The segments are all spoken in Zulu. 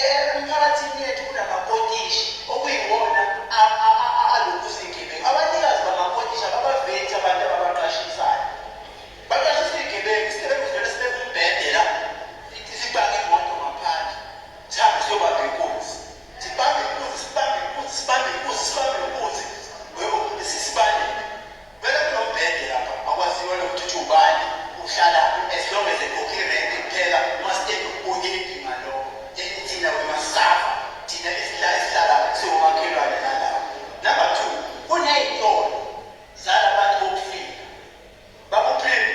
Emiphakathini yethu kunamakotishi okuyiwona alungisa izigebengu. Abanikazi bamakotishi ababavethi abantu ababaqashisayo. Baqashisa izigebengu, isigebengu sivele sibeke umbhede la, sipake imoto ngaphandle, sihambe siyobamba inkunzi. Sibambe inkunzi, sibambe inkunzi, sibambe inkunzi, sibambe inkunzi, webo, sisibaleke. Vele kunombhede lapha akwaziwa nokuthi uthi ubani uhlalaphi as long as ekhokha irent kuphela uma step kuyephi ngalokho eyi thina we must suffer thina esihla esihlalapha siwomakhelwane nalawa number two kuneytolo zalabantu bokufika bakuphinde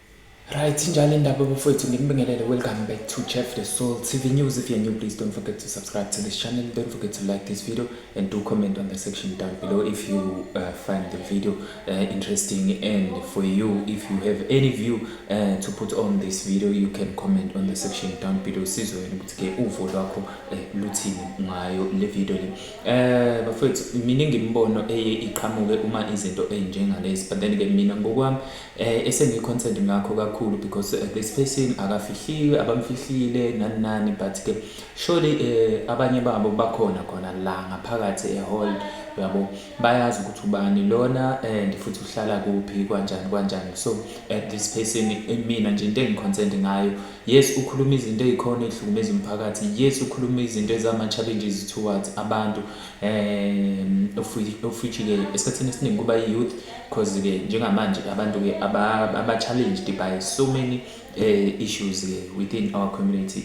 Right, njalo indaba bafowethu ngimbingelele welcome back to Chef the Soul TV News. If you're new, please don't forget to subscribe to this channel. Don't forget to like this video and do comment on the section down below if you uh, find the video uh, interesting and for you if you have any view uh, to put on this video you can comment on the section down below sizwe ukuthi ke uvo lwakho uh, luthini ngayo le video le. Eh bafowethu mina ngimbono eye iqhamuke uma izinto ezinjengalezi but then ke mina ngokwami Eh esengi concerned ngakho kakhulu because uh, this person akafihliwe abamfihlile nani nani but ke surely eh abanye babo bakhona khona la ngaphakathi e hall yabo bayazi ukuthi ubani lona and eh, futhi uhlala kuphi kanjani kanjani so at eh, this person eh, mina nje into engiconcerned ngayo yes ukhuluma izinto ezikhona ezihlukumeza umphakathi yes ukhuluma izinto ezama challenges towards abantu um ofitshike esikhathini esiningi kuba i-youth because ke njengamanje abantu ke aba-challenged by so many um issues ke within our community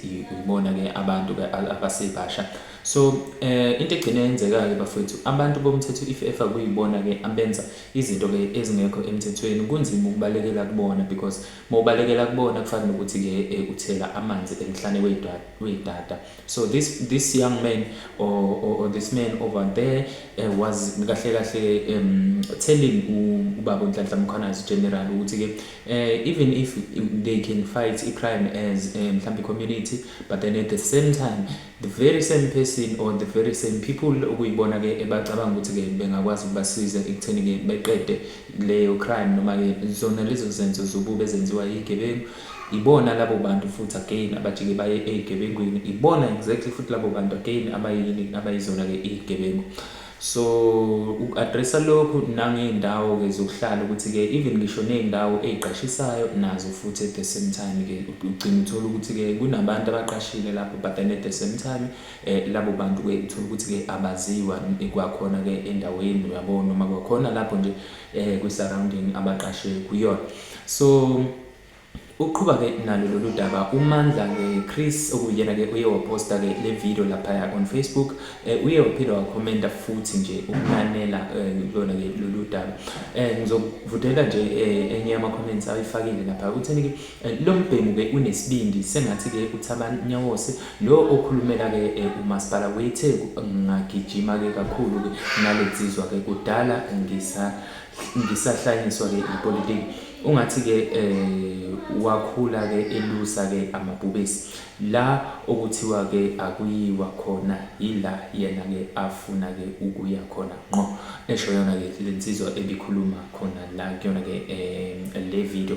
ibona ke abantu ke abasebasha so um into egcine yenzeka-ke bafowethu abantu bomthetho if efa kuyibona ke abenza izinto ke ezingekho emthethweni kunzima ukubalekela kubona because uma ubalekela kubona kufana nokuthi ke eh, uthela amanzi emhlane weydata so this this young man or, or, or this man over there uh, was kahle kahle um, telling ubaba uNhlanhla Mkhwanazi general ukuthi ke uh, even if they can fight a crime as eh, mhlambi um, community but then at the same time the very same person or the very same people okuyibona ke ebacabanga ukuthi ke bengakwazi ukubasiza ekutheni ke beqede leyo crime noma ke zona lezo zenzo zobubi ezenziwa yigebengu Ibona labo bantu futhi again abajike baye eygebengwini ibona exactly futhi labo bantu again abayini abayizona ke iygebengu. So u addressa lokhu nangeyndawo ke zokuhlala ukuthi ke even ngisho neyndawo eyqashisayo nazo futhi at the same time ke ugcina uthola ukuthi ke kunabantu abaqashile lapho but then at the same time eh labo bantu ke uthola ukuthi ke abaziwa kwakhona ke endaweni uyabona noma kwakhona lapho nje eh kwi surrounding abaqashe kuyona. So Uqhuba ke nalo lolu daba uMandla ke Chris okuyena ke uye waposta ke le video laphaya on Facebook eh, uye waphinde wakhomenta futhi nje ukunanela eh, lona ke lolu daba eh, ngizokuvutela nje eh, enye yama comments ayifakile lapha utheni ke eh, lo mbhemu ke unesibindi sengathi ke uthabani nyawose lo okhulumela ke eh, umasipala weTheku ngagijima ke kakhulu ke nalezizwa ke kudala ngisa ngisahlanyiswa ke ipolitiki ungathi ke eh wakhula ke elusa ke amabhubesi la okuthiwa ke akuyiwa khona yila yena ke afuna ke ukuya khona nqo esho yona ke lensizwa ebikhuluma khona la kuyona ke eh le video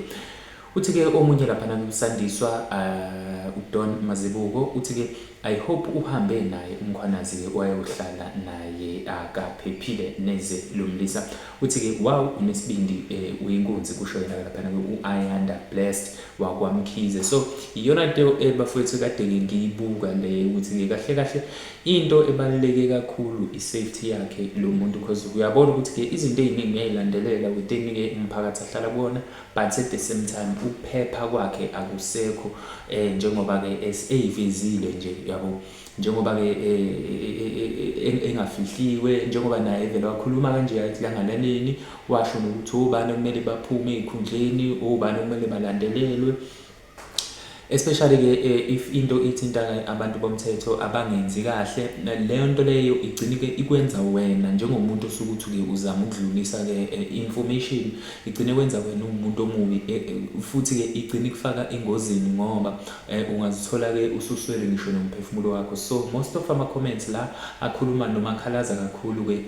Uthi ke omunye laphana kuSandiswa uh, uDon Mazibuko uthi ke I hope uhambe naye umkhwanazi ke wayohlala naye akaphephile neze lo mlisa uthi ke wow unesibindi eh, uyinkunzi kusho yena laphana ke uAyanda blessed wakwamkhize so iyona into ebafowethu eh, kade ke ngiyibuka le ukuthi ke kahle kahle into ebaluleke kakhulu isafety yakhe lo muntu because uyabona ukuthi ke izinto eziningi uyayilandelela within ke umphakathi ahlala kuwona but at the same time ukuphepha kwakhe akusekho eh njengoba ke eyivezile nje yabo njengoba ke engafihliwe njengoba naye vele wakhuluma kanje athi langalaleni washo nokuthi obani okumele baphume ezikhundleni obani okumele balandelelwe especially ke eh, if into ithinta abantu bomthetho abangenzi kahle leyo nto leyo igcine ke ikwenza wena njengomuntu osuke uthi ke uzama ukudlulisa ke eh, information igcine kwenza wena umuntu omubi eh, futhi ke igcine kufaka engozini ngoba ungazithola ke ususwele ngisho nomphefumulo wakho so most of ama comments la akhuluma noma akhalaza kakhulu ke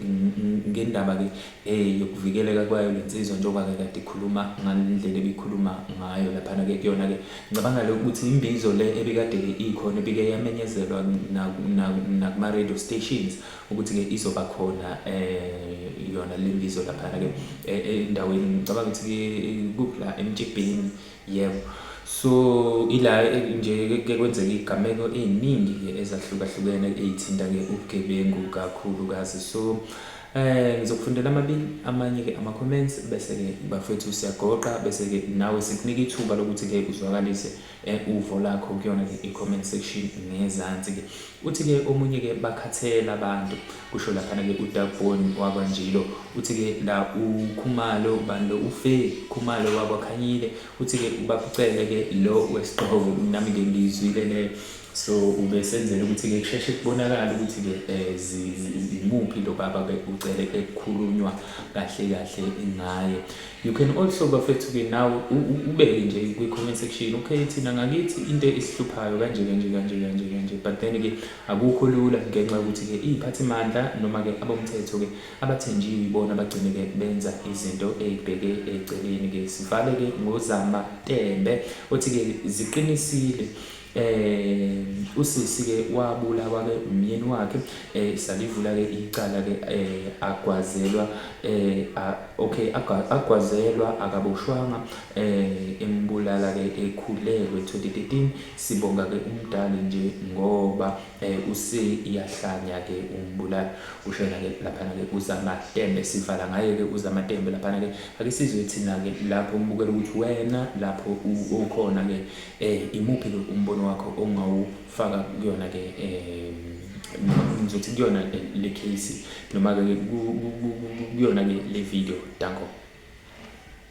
ngendaba ke eh, yokuvikeleka kwayo le nsizwa njengoba-ke kade ikhuluma ngale ndlela ebikhuluma ngayo laphana-ke kuyona-ke ngicabanga-ke ukuthi imbizo le ebikade-ke ikhona ebike yamenyezelwa nakuma-radio stations ukuthi-ke izoba khona um yona le mbizo laphana-ke e, endaweni ngicabanga ukuthi kuphi la emtshibhini Yebo. So ila nje ke kwenzeka igameko eziningi ke ezahlukahlukene ezithinta ke ubugebengu kakhulu kazi. So eh ngizokufundela amabili amanye ke ama comments bese ke bafethu siyagoqa bese ke nawe sikunika ithuba lokuthi ke uzwakalise eh, uvo lakho kuyona ke i comment section ngezansi ke. Uthi-ke omunye-ke bakhathela abantu, kusho laphana-ke uDoug Boon wakwaNjilo. Uthi-ke la uKhumalo, ubani lo, uFe Khumalo wakwaKhanyile. Uthi-ke uBab'Cele-ke lo wesiGxobo, nami-ke ngiyizwile le. So ubesenzela ukuthi-ke kusheshe kubonakale ukuthi-ke um imuphi lo baba uCele ekukhulunywa kahle kahle ngaye. You can also bafethu ke nawe ubeke nje kwi comment section okay thina ngakithi into esihluphayo kanje kanje kanje kanje kanje but then ke akukho lula ngenxa ukuthi ke iziphathi mandla noma ke abomthetho ke abathenjiwe ibona abagcine ke benza izinto ezibheke eceleni ke sivale ke ngozama tembe othi ke ziqinisile um usisi-ke wabulawa-ke umyeni wakhe um salivula-ke icala-ke um agwazelwa um okay agwazelwa akaboshwanga um embulala-ke ekhulelwe 2013 sibonga-ke umdali nje ngoba um useyahlanya-ke umbulala kushona-ke laphana-ke uzamatembe sivala ngaye-ke uzamatembe laphana-ke ake sizwe thina-ke lapho umbukela ukuthi wena lapho ukhona-ke Eh imuphi ke umbono wakho ongawufaka kuyona ke eh ngizothi kuyona le case noma ke kuyona ke le video danko